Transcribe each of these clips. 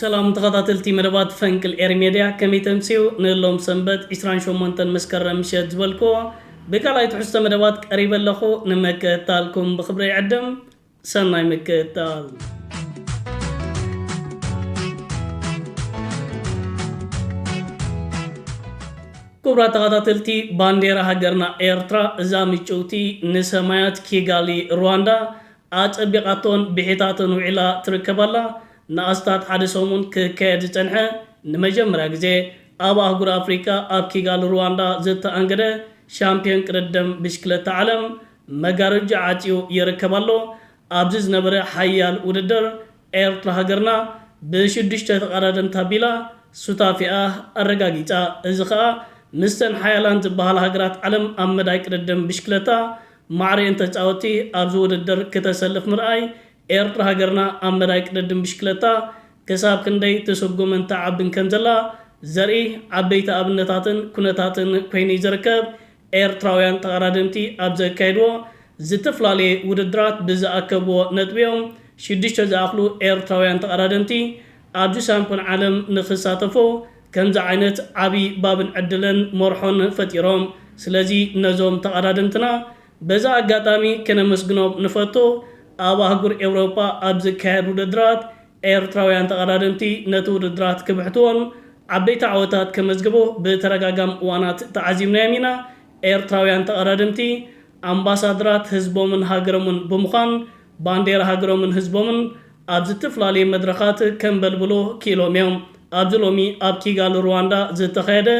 ሰላም ተኸታተልቲ መደባት ፈንቅል ኤሪ ሜድያ ከመይ ተምስዩ ንሎም ሰንበት ዕስራን ሸሞንተን መስከረም ምሸት ዝበልክዎ ብካልኣይ ትሕዝቶ መደባት ቀሪበ ኣለኹ ንምክእታልኩም ብኽብሪ ይዕድም ሰናይ ምክእታል ክቡራት ተኸታተልቲ ባንዴራ ሃገርና ኤርትራ እዛ ምጭውቲ ንሰማያት ኪጋሊ ሩዋንዳ ኣጸቢቓቶን ብሒታቶን ውዒላ ትርከብ ኣላ። ንኣስታት ሓደ ሰሙን ክካየድ ዝጸንሐ ንመጀመርያ ግዜ ኣብ ኣህጉር ኣፍሪቃ ኣብ ኪጋሊ ሩዋንዳ ዝተኣንገደ ሻምፕዮን ቅድድም ብሽክለታ ዓለም መጋረጃ ዓጽዩ ይርከብ ኣሎ። ኣብዚ ዝነበረ ሓያል ውድድር ኤርትራ ሃገርና ብሽዱሽተ ተቓዳደምቲ ኣቢላ ሱታፌኣ ኣረጋጊጻ። እዚ ከኣ ምስተን ሓያላን ዝበሃላ ሃገራት ዓለም ኣብ መዳይ ቅድድም ብሽክለታ ማዕረኤን ተጻወቲ ኣብዚ ውድድር ክተሰልፍ ምርኣይ ኤርትራ ሃገርና ኣብ መዳይ ቅድድም ብሽክለታ ክሳብ ክንደይ ትስጉምን ትዓብን ከምዘላ ዘርኢ ዓበይቲ ኣብነታትን ኩነታትን ኮይኑዩ ዝርከብ። ኤርትራውያን ተቐዳደምቲ ኣብ ዘካየድዎ ዝትፍላለየ ውድድራት ብዝኣከብዎ ነጥቢ'ዮም ሽዱሽተ ዝኣኽሉ ኤርትራውያን ተቐዳደምቲ ኣብዚ ሻምፕዮን ዓለም ንኽሳተፉ ከምዚ ዓይነት ዓቢ ባብን ዕድልን መርሖን ፈጢሮም። ስለዚ ነዞም ተቐዳደምትና በዚ ኣጋጣሚ ከነመስግኖም ንፈቱ። ኣብ ኣህጉር ኤውሮጳ ኣብ ዝካየድ ውድድራት ኤርትራውያን ተቐዳደምቲ ነቲ ውድድራት ክብሕትዎን ዓበይቲ ዓወታት ከመዝግቡ ብተረጋጋም እዋናት ተዓዚብናዮም ኢና። ኤርትራውያን ተቐዳደምቲ ኣምባሳድራት ህዝቦምን ሃገሮምን ብምዃን ባንዴራ ሃገሮምን ህዝቦምን ኣብ ዝትፍላለየ መድረኻት ከንበልብሉ ክኢሎም እዮም። ኣብዚ ሎሚ ኣብ ኪጋሊ ሩዋንዳ ዝተኻየደ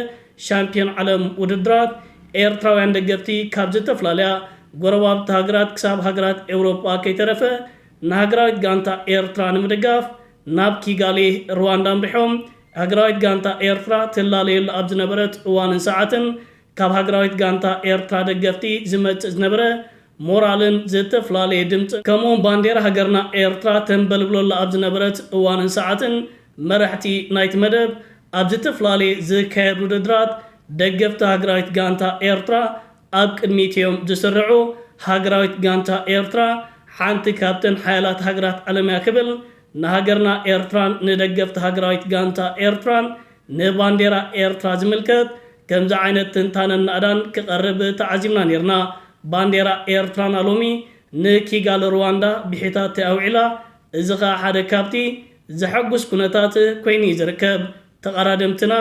ሻምፕዮን ዓለም ውድድራት ኤርትራውያን ደገፍቲ ካብ ዝተፍላለያ ጎረባብቲ ሃገራት ክሳብ ሃገራት ኤውሮጳ ከይተረፈ ንሃገራዊት ጋንታ ኤርትራ ንምድጋፍ ናብ ኪጋሊ ርዋንዳ ኣምሪሖም። ሃገራዊት ጋንታ ኤርትራ ትላለየሉ ኣብ ዝነበረት እዋንን ሰዓትን ካብ ሃገራዊት ጋንታ ኤርትራ ደገፍቲ ዝመጽእ ዝነበረ ሞራልን ዝተፍላለየ ድምጽን ከምኡ'ውን ባንዴራ ሃገርና ኤርትራ ተንበልብለሉ ኣብ ዝነበረት እዋንን ሰዓትን መረሕቲ ናይቲ መደብ ኣብ ዝተፍላለየ ዝካየድ ውድድራት ደገፍቲ ሃገራዊት ጋንታ ኤርትራ ኣብ ቅድሚት'ዮም ዝስርዑ፣ ሃገራዊት ጋንታ ኤርትራ ሓንቲ ካብተን ሓያላት ሃገራት ዓለም'ያ ክብል ንሃገርና ኤርትራን ንደገፍቲ ሃገራዊት ጋንታ ኤርትራን ንባንዴራ ኤርትራ ዝምልከት ከምዚ ዓይነት ትንታነን ናእዳን ክቐርብ ተዓዚብና ኔርና። ባንዴራ ኤርትራና ሎሚ ንኪጋሊ ርዋንዳ ብሒታተይ ኣውዒላ፣ እዚ ከኣ ሓደ ካብቲ ዘሐጉስ ኩነታት ኮይኑ'ዩ ዝርከብ። ተቐዳደምትና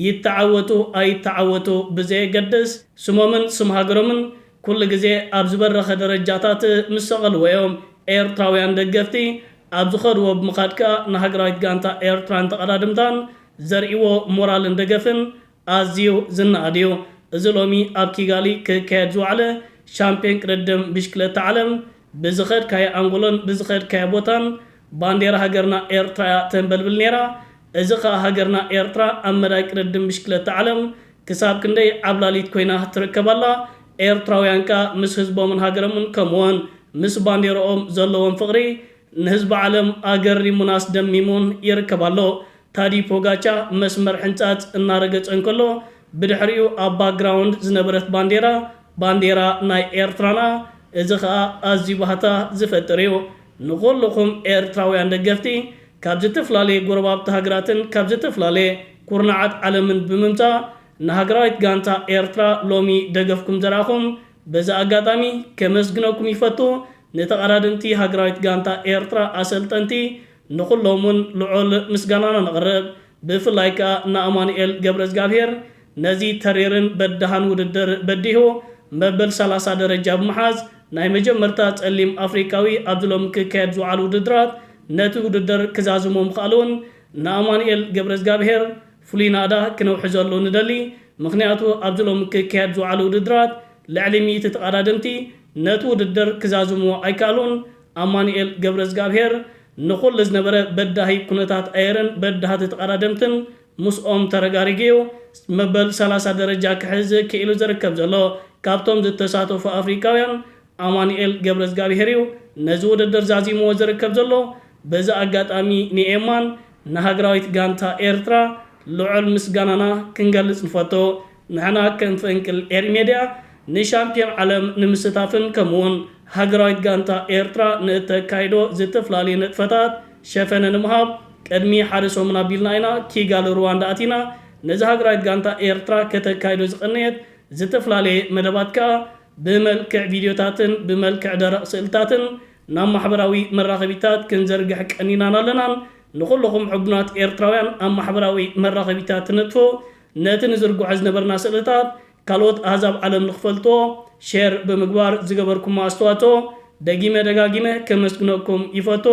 ይተዓወቱ ኣይተዓወቱ ብዘየገድስ፣ ስሞምን ስም ሃገሮምን ኩሉ ግዜ ኣብ ዝበረኸ ደረጃታት ምስ ሰቐልዎ እዮም። ኤርትራውያን ደገፍቲ ኣብ ዝኸድዎ ብምኻድ ከኣ ንሃገራዊት ጋንታ ኤርትራን ተቐዳድምታን ዘርእይዎ ሞራልን ደገፍን ኣዝዩ ዝነኣድ እዩ። እዚ ሎሚ ኣብ ኪጋሊ ክካየድ ዝወዓለ ሻምፕዮን ቅድድም ብሽክለታ ዓለም፣ ብዝኸድካዮ ኣንጎሎን ብዝኸድካዮ ቦታን፣ ባንዴራ ሃገርና ኤርትራ እያ ተንበልብል ነይራ፣ እዚ ከኣ ሃገርና ኤርትራ ኣብ መዳይ ቅድድም ብሽክለታ ዓለም ክሳብ ክንደይ ዓብላሊት ኮይና ትርከብ ኣላ፣ ኤርትራውያን ከኣ ምስ ህዝቦምን ሃገሮምን ከምኡ'ውን ምስ ባንዴርኦም ዘለዎም ፍቕሪ ንህዝቢ ዓለም ኣገሪሙን ኣስደሚሙን ይርከብ ኣሎ። ታዲ ፖጋቻ መስመር ሕንጻጽ እናረገጸ እንከሎ ብድሕሪኡ ኣብ ባክግራውንድ ዝነበረት ባንዴራ ባንዴራ ናይ ኤርትራና እዚ ከኣ ኣዝዩ ባህታ ዝፈጥር እዩ። ንኹሉኹም ኤርትራውያን ደገፍቲ ካብ ዝተፍላለየ ጎረባብቲ ሃገራትን ካብ ዝተፍላለየ ኩርናዓት ዓለምን ብምምጻእ ንሃገራዊት ጋንታ ኤርትራ ሎሚ ደገፍኩም ዘርኣኹም በዚ ኣጋጣሚ ከመስግነኩም ይፈቱ ንተቐዳደምቲ ሃገራዊት ጋንታ ኤርትራ ኣሰልጠንቲ ንኹሎም ውን ልዑል ምስጋናና ነቕርብ ብፍላይ ከኣ ንኣማኑኤል ገብረዝግኣብሄር ነዚ ተሪርን በዳህን ውድድር በዲሁ መበል ሰላሳ ደረጃ ብምሓዝ ናይ መጀመርታ ጸሊም ኣፍሪቃዊ ኣብዚ ሎሚ ክካየድ ዝውዓል ውድድራት ነቲ ውድድር ክዛዝሞ ምኽኣሉ'ውን ንኣማኑኤል ገብረዝጋብሄር ፍሉይ ናእዳ ክነውሕዘሉ ንደሊ ምኽንያቱ ኣብዚ ሎሚ ክካየድ ዝውዓል ውድድራት ልዕሊ ሚእቲ ተቐዳደምቲ ነቲ ውድድር ክዛዝምዎ ኣይከኣሉን ኣማኑኤል ገብረዝጋብሄር ንኹሉ ዝነበረ በዳሂ ኩነታት ኣየርን በዳህቲ ተቐዳደምትን ምስኦም ተረጋሪጊኡ መበል ሰላሳ ደረጃ ክሕዝ ክኢሉ ዝርከብ ዘሎ ካብቶም ዝተሳተፉ ኣፍሪካውያን ኣማኑኤል ገብረዝጋብሄር እዩ ነዚ ውድድር ዛዚምዎ ዝርከብ ዘሎ። በዚ ኣጋጣሚ ንኤማን ንሃገራዊት ጋንታ ኤርትራ ልዑል ምስጋናና ክንገልጽ ንፈቱ። ንሕና ከም ፈንቅል ኤሪ ሜድያ ንሻምፕዮን ዓለም ንምስታፍን ከምኡውን ሃገራዊት ጋንታ ኤርትራ ንእተካይዶ ዝተፍላለዩ ንጥፈታት ሸፈነ ንምሃብ ቅድሚ ሓደ ሰሙን ኣቢልና ኢና ኪጋሊ ሩዋንዳ ኣቲና ነዚ ሃገራዊት ጋንታ ኤርትራ ከተካይዶ ዝቐነየት ዝተፍላለየ መደባት ከኣ ብመልክዕ ቪድዮታትን ብመልክዕ ደረቕ ስእልታትን ናብ ማሕበራዊ መራኸቢታት ክንዘርግሕ ቀኒናን ኣለናን ንኹሉኹም ዑቡናት ኤርትራውያን ኣብ ማሕበራዊ መራኸቢታት ትነጥፉ ነቲ ንዝርግሖ ዝነበርና ስእልታት ካልኦት ኣህዛብ ዓለም ንክፈልጥዎ ሼር ብምግባር ዝገበርኩሞ ኣስተዋጽኦ ደጊመ ደጋጊመ ከመስግነኩም ይፈቱ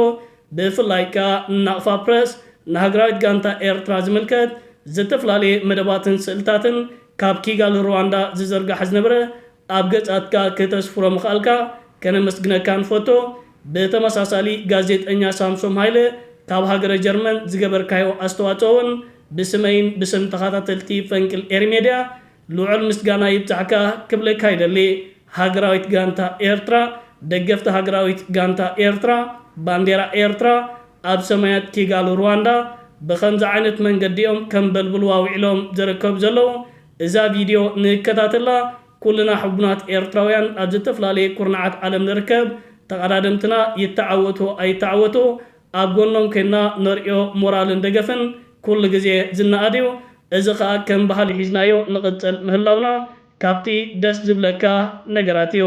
ብፍላይ ክኣ ንናቅፋ ፕረስ ንሃገራዊት ጋንታ ኤርትራ ዝምልከት ዝተፍላለየ መደባትን ስእልታትን ካብ ኪጋሊ ርዋንዳ ዝዘርጋሕ ዝነበረ ኣብ ገጻትካ ከተስፍሮ ምኽኣልካ ከነመስግነካ ንፈቶ። ብተመሳሳሊ ጋዜጠኛ ሳምሶም ሃይለ ካብ ሃገረ ጀርመን ዝገበርካዮ ኣስተዋጽኦ ውን ብስመይን ብስም ተኻታተልቲ ፈንቅል ኤሪ ሜድያ ልዑል ምስጋና ይብጻሕካ ክብለካ ይደሊ። ሃገራዊት ጋንታ ኤርትራ ደገፍቲ ሃገራዊት ጋንታ ኤርትራ ባንዴራ ኤርትራ ኣብ ሰማያት ኪጋሊ ሩዋንዳ ብኸምዚ ዓይነት መንገዲ ዮም ከንበልብልዋ ዊዒሎም ዝርከቡ ዘለዉ እዛ ቪድዮ ንከታተላ ኩልና ሕቡናት ኤርትራውያን ኣብ ዘተፈላለየ ኩርናዓት ዓለም ንርከብ ተቓዳደምትና ይተዓወቱ ኣይተዓወቱ ኣብ ጎኖም ኮይንና ነርእዮ ሞራልን ደገፍን ኩሉ ግዜ ዝነኣድ እዩ እዚ ከኣ ከም ባህሊ ሒዝናዮ ንቕጽል ምህላውና ካብቲ ደስ ዝብለካ ነገራት እዩ።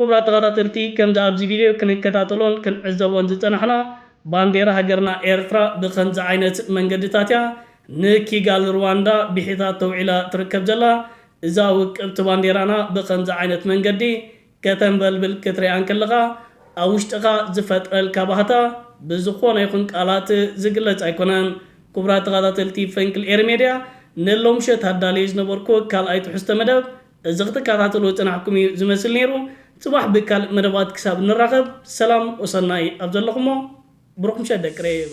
ኩቡራት ተኸታተልቲ ከምዚ ኣብዚ ቪድዮ ክንከታተሎን ክንዕዘቦን ዝጸናሕና ባንዴራ ሃገርና ኤርትራ ብኸምዚ ዓይነት መንገድታት እያ ንኪጋሊ ርዋንዳ ቢሒታ ተውዒላ ትርከብ ዘላ እዛ ውቅብቲ ባንዴራና ብኸምዚ ዓይነት መንገዲ ከተንበልብል ክትሪኣ እንክለኻ ኣብ ውሽጥኻ ዝፈጥረልካ ባህታ ብዝኾነ ይኹን ቃላት ዝግለጽ ኣይኮነን ኩቡራት ተኸታተልቲ ፈንቅል ኤሪ ሜድያ ንሎምሸት ኣዳልየዮ ዝነበርኩ ካልኣይ ትሕዝቶ መደብ እዚ ክትካታተልዎ ጸናሕኩም እዩ ዝመስል ነይሩ ጽባሕ ብካልእ መደባት ክሳብ ንራኸብ ሰላም ኦሰናይ ኣብ ዘለኹሞ ብሩኽ ምሸት ደቂ ሬም።